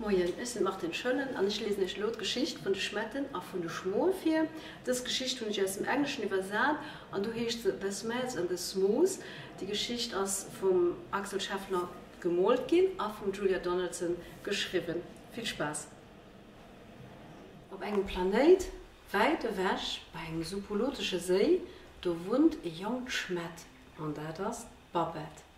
Moien, ech sinn d'Martine Schoellen an ech liesen iech elo d'Geschicht vun de Schmetten a vun de Schmoe vir. Dës Geschicht hunn ech aus dem Engleschen iwwersat an do heescht se The Smells and the Smoes. Déi Geschicht ass vum Axel Scheffler gemoolt ginn a vum Julia Donaldson geschriwwen. Vill Spaass! Op engem Planéit, wäit ewech bei engem supolotesche Séi, do wunnt e jonkt Schmett an dat ass d'Babette.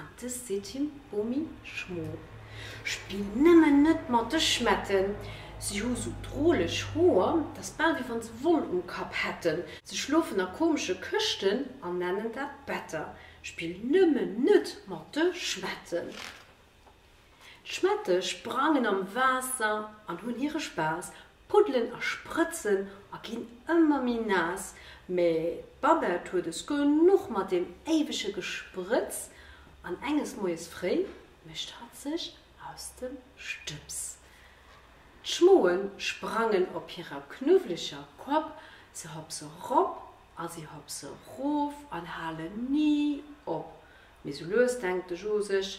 An dës seet him, Bomi, Schmo, spill nëmmen net mat de Schmetten, si hu sou droleg Hoer, t'ass bal wéi wann se Woll um Kapp hätten, se schlofen a komesche Këschten an nennen dat Better, spill nëmmen net mat de Schmetten. D'Schmette sprangen am Waasser an hunn hire Spaass, puddelen a sprëtzen a ginn ëmmer méi naass, mä d'Babette huet es genuch mat deem éiwege Gesprëtz an enges Moies fréi mécht hatt sech aus dem Stëbs. D'Schmoe sprangen op hirer knuwwleger Kopp, se hopse rop a se hopse rof an halen ni op, mee sou lues denkt de Jo sech,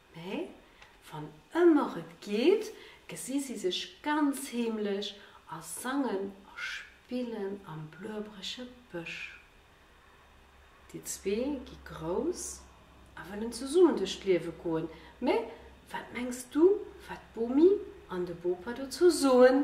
Mee wann ëmmer et geet, gesi si sech ganz heemlech a sangen a spillen am bluebrege Bësch. Déi zwee gi grouss a wëllen zesummen duerch d'Liewe goen. Mee wat mengs du, wat d'Bomi an de Bopa dozou soen?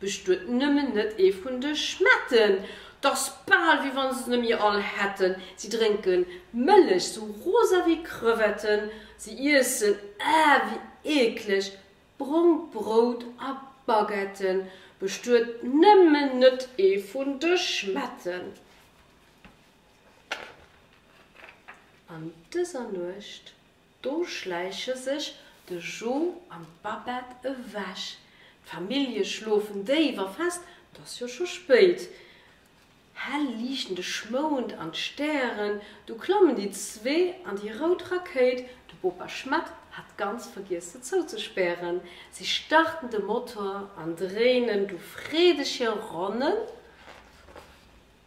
Bestuet nëmmen net ee vun de Schmetten. T'ass bal wéi wann se se nemmi all hätten. Si drénken Mëllech sou rosa wéi Crevetten. Si iessen, ah, wéi eekleg! brongt Brout a Baguetten. Bestuet nëmmen net ee vun de Schmetten. An dëser Nuecht. Do schläiche sech de Jo an d'Babette ewech. D'Famillje schlofen déif a fest, 't ass jo scho spéit. Hell liichten de Schmound an d'Stären, du klammen déi zwee an déi rout Rakéit, de Bopa Schmatt hat ganz vergiess se zouzespären. Si starten de Motor an dréinen du freedeg hir Ronnen.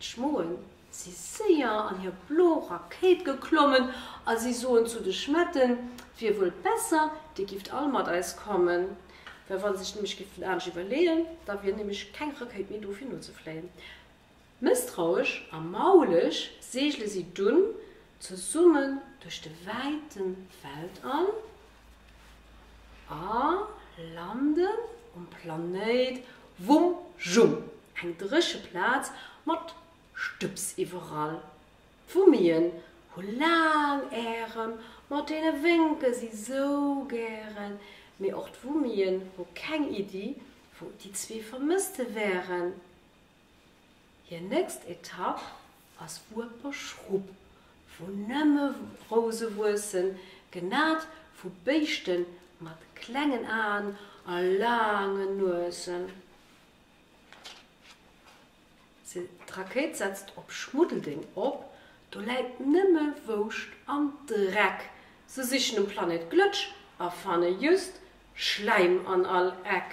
D'Schmoen si séier an hir blo Rakéit geklommen a si soen zu de Schmetten, Wier wuel besser, dir gifft all mat eis kommen, well wa se sech nämlech géifen anescht iwwerleeën, da wier nämlech keng Rakéit méi do fir nozefléien. Mësstrauesch a mauleg segele si dunn zesummen duerch de wäite Weltall. A landen um Planéit Wum Jum, eng dréche Plaz mat Stëbs iwwerall. D'Wummien hu laang Ärem, mat deene wénke si sou gären. Mee och d'Wummien hu keng Iddi, wou déi zwee Vermësste wären. Hir nächst Etapp ass Ueperschrupp, wou nëmme Rouse wuessen, genat vu Béischte mat klengen Aen a laangen Nuesen. D'Rakéit setzt op Schmuddeldeng op, do läit nëmme Wouscht an Dreck. Se sichen um Planet Glëtsch a fanne just Schläim an all Eck.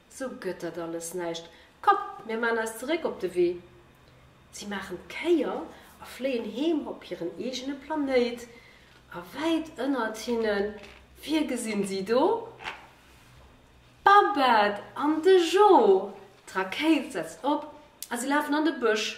So gëtt dat alles näischt. Komm, mir maan eis zeréck op de Wee. Si maachen d'Kéier a fléien heem op hiren eegene Planéit. A wäit ënnert hinne, wie gesinn si do? D'Babette an de Jo! D'Rakéit setzt op a si lafen an de Bësch.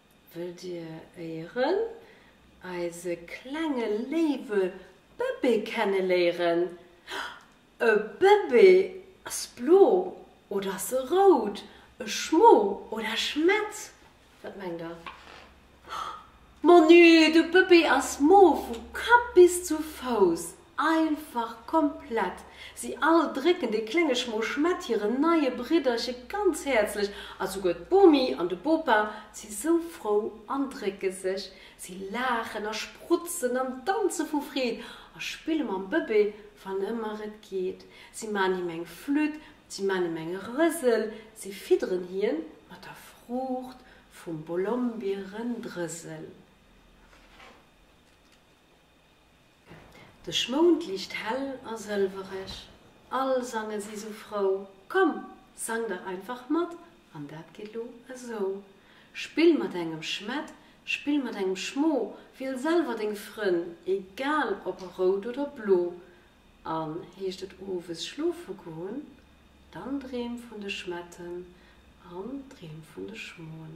Wëllt Dir éieren eise klenge léiwe Bëbee kenneléieren? E Bëbee ass blo oder ass e rout? E Schmo oder e Schmett? Wat mengt Der? Monü, de Bëbee ass mof vu Kapp bis zu Fouss! Einfach komplett! Si all drécken dee klenge Schmoschmett hiren neie Bridderche ganz häerzlech a souguer d'Bomi an de Bopa si sou frou an drécke sech. Si laachen a sprutzen an danze vu Freed a spille mam Bëbee, wann ëmmer et geet. Si man him eng Flütt, si man him eng Rësel, si fidderen hien mat der Fruucht vum Bolombierendrësel. De Schmound liicht hell a sëlwereg, all sange si sou frou, komm, sang dach einfach mat, an dat geet lo esou, Spill mat engem Schmett, spill mat engem Schmo, wiel selwer deng Frënn, egal ob rout oder blo, an heescht et owes schlofe goen, dann dreem vun de Schmetten an dreem vun de Schmoen.